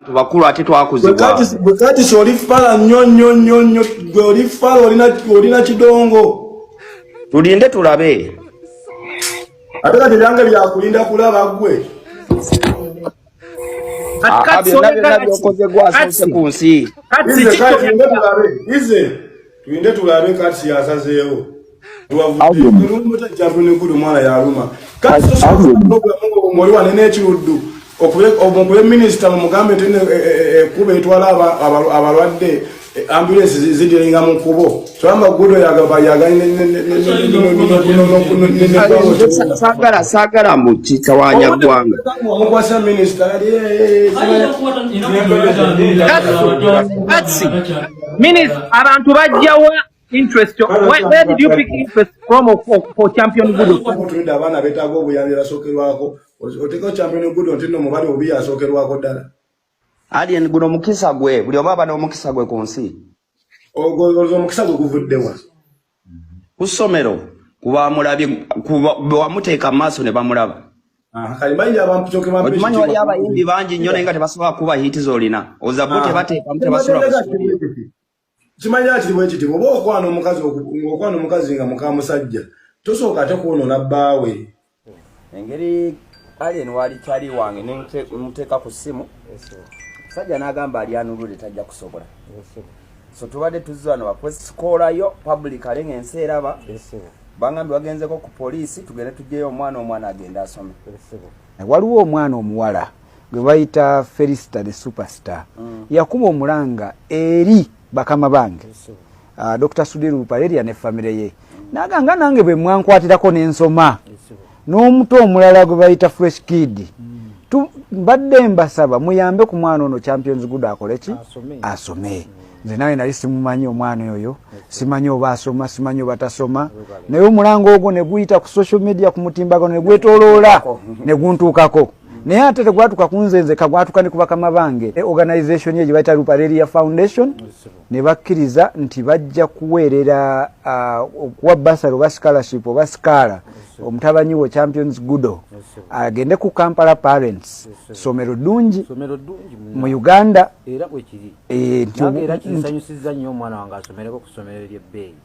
tubakulu ate twakuzibwakatisi oli fala nyo nyo nyo nyo gwe oli fala olina kidongo tulinde tulabe ate kati ebyange byakulinda kulaba gwe byonna byonna byokoze gwasoose ku nsi Tulinde tulabe kati yasazeewo. Alumutajavunikulu mwala yaluma. Kati omwali wane n'ekiruddu omukube minisita mumugambe nti ekkuba eh, eh, eh, etwala abalwadde ambulensi zidiringa mu kubo twamagudo yagayagala sagala mu kitawanya ggwanga omukwasa minisita Minis, abantu bajjawa interest where, where did you pick interest from of, of, for champion good omutrade abaana betaaga obuyambi basookerwako oteekawo champion good nti no mubali obi yasookerwako ddala alien guno omukisa gwe buli oba aba n'omukisa gwe ku nsi ogwo omukisa gwe guvuddewa ku ssomero kubamulabye bewamuteeka mu maaso ne bamulaba okimanyi wali abayimbi bangi nnyo naye nga tebasobola kuba hiiti zolina ozabbo ah. tebateekamu tebasulakimanyaa kiri bwekiti oba okwana omukazi okwana omukazi nga mukamusajja tosooka ate kwonona bbaawe engeri alien wali kyali wange nemuteeka ku ssimu sajja n'agamba ali anulule tajja kusobola so tubadde tuzza wano bakwesikoolayo public ale ng'ensi eraba bangambi bagenzeko ku poliisi tugende tugyeyo omwana omwana agenda asome waliwo omwana omuwala gwe bayita felisita the superstar mm. yakuba omulanga eri bakama bange uh, dr sudir bupareria ne famire ye naga nga nange bwe mwankwatirako nensoma n'omuto omulala gwe bayita fresh kid mm. mbadde mbasaba muyambe ku mwana ono champions good akole ki asome mm. nze nawe nali simumanyi omwana oyo simanyi oba asoma simanyi oba tasoma naye omulango ogwo neguyita ku social media ku mutimbagano negwetoloola neguntuukako naye ate tegwatuka kunzenze kagwatuka ne kubakama bange e organization ye gyebayita rupareria foundation ne bakkiriza nti bajja kuweerera okuwa basaro oba scholarship oba sikaala omutabanyi wo champions gudo agende ku kampala parents somero ddungi mu uganda era bwekiri e, era kinsanyusizza nnyo omwana wange asomereko ku somero lyebbeeyi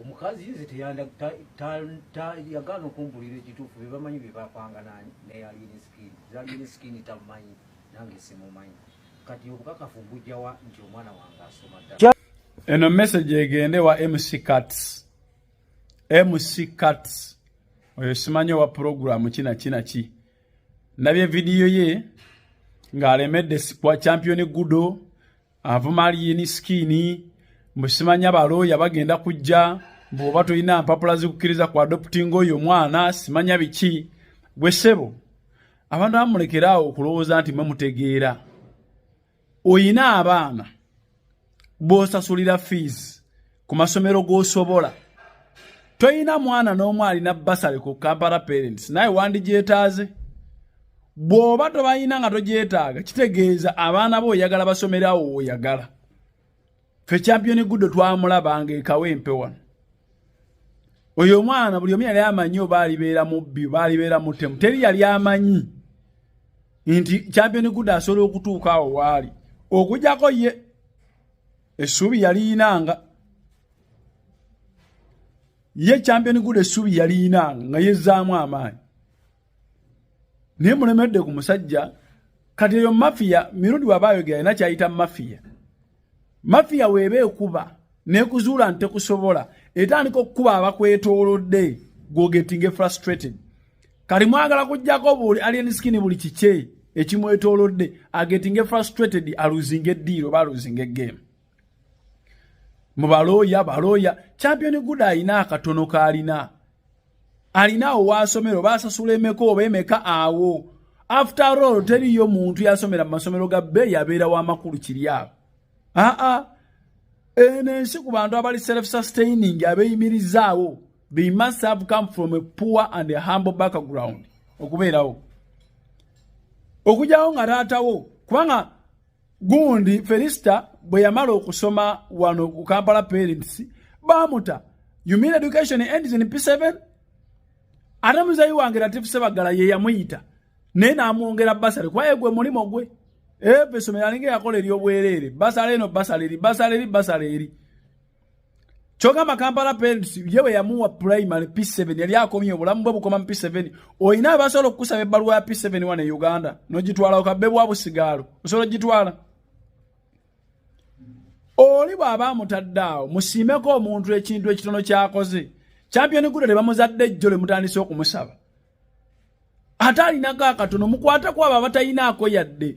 omukazi nze yagaana okumbulira ekituufu bebamanyi bebapanga neyalini skin zalini skin tamanyi nange simumanyi kati obukakafu mbujjawa nti omwana wange asoma ddala eno message egende wa mc cats mc cats oyo simanyi owa puroguramu kinakinaki nabye vidiyo ye ng'alemedde kwa championi gudo avuma aliyini sikini mbusimanya balooya bagenda kujja bwoba tolina mpapula zikukkiriza ku adoptinga oyo omwana simanya biki gwe sebo abantu amulekeraawo okulowooza nti mwe mutegeera oyina abaana bwosasulira fees ku masomero g'osobola toyina mwana n'omu alina basale ku kampala parents naye wandigyetaaze bw'oba tobayina nga togyetaaga kitegeeza abaana bo oyagala basomerawo woyagala fe championi guddo twamulabanga ekawo empe wano oyo omwana buli omu yali amanyi oba alibeera mubbi oba alibeera mutemu teri yali amanyi nti championi guddo asobola okutuuka awo waali okujako ye essuubi yaliyinanga ye champion good essuubi yaliyinanga nga yezzaamu amaanyi naye mulemedde ku musajja kati eyo mafiya mirundi waba ayogera alina kyayita mafiya mafiya weeba ekuba nekuzuula nti tekusobola etandika okukuba abakwetoolodde gwogetinge frustrated kali mwagala kujjako buli alien skin buli kikye ekimwetolodde agetinge frustrated aluzinga eddiiro oba aluzinga egame mu balooya balooya champion good alina akatono kaalina alina awo waasomero baasasula emeka oba emeka awo after all teriyo muntu yasomera mu masomero ga bbe yabeera wamakulu kiri awo aa eno ensi ku bantu abali self sustaining abeyimirizaawo They must have come from a poor and a humble background okubeerawo okugyawo nga taatawo kubanga gundi felisita bwe yamala okusoma wano ku kampala parents baamuta you mean education ends in p7 ate muzeyi wange latifu sebaggala ye yamuyita naye n'amwongera basale kuba ye gwe mulimu gwe eyo esomero alinga eyakola ery'obwereere basale eno basale eri basale eri basale eri kyogamba kampala parents ye bwe yamuwa primary p7 yali akomye obulamu bwe bukoma mu p7 olina abasobola okukusaba ebbaluwa ya p7 wane uganda nogitwala okabbe bwa busigaalo osobola ogitwala oli bw'aba amutadde awo musiimeko omuntu ekintu ekitono kyakoze champion guda ne bamuzadde ejjo lwe mutandise okumusaba ate alinako akatono mukwate ku abo abatayinaako yadde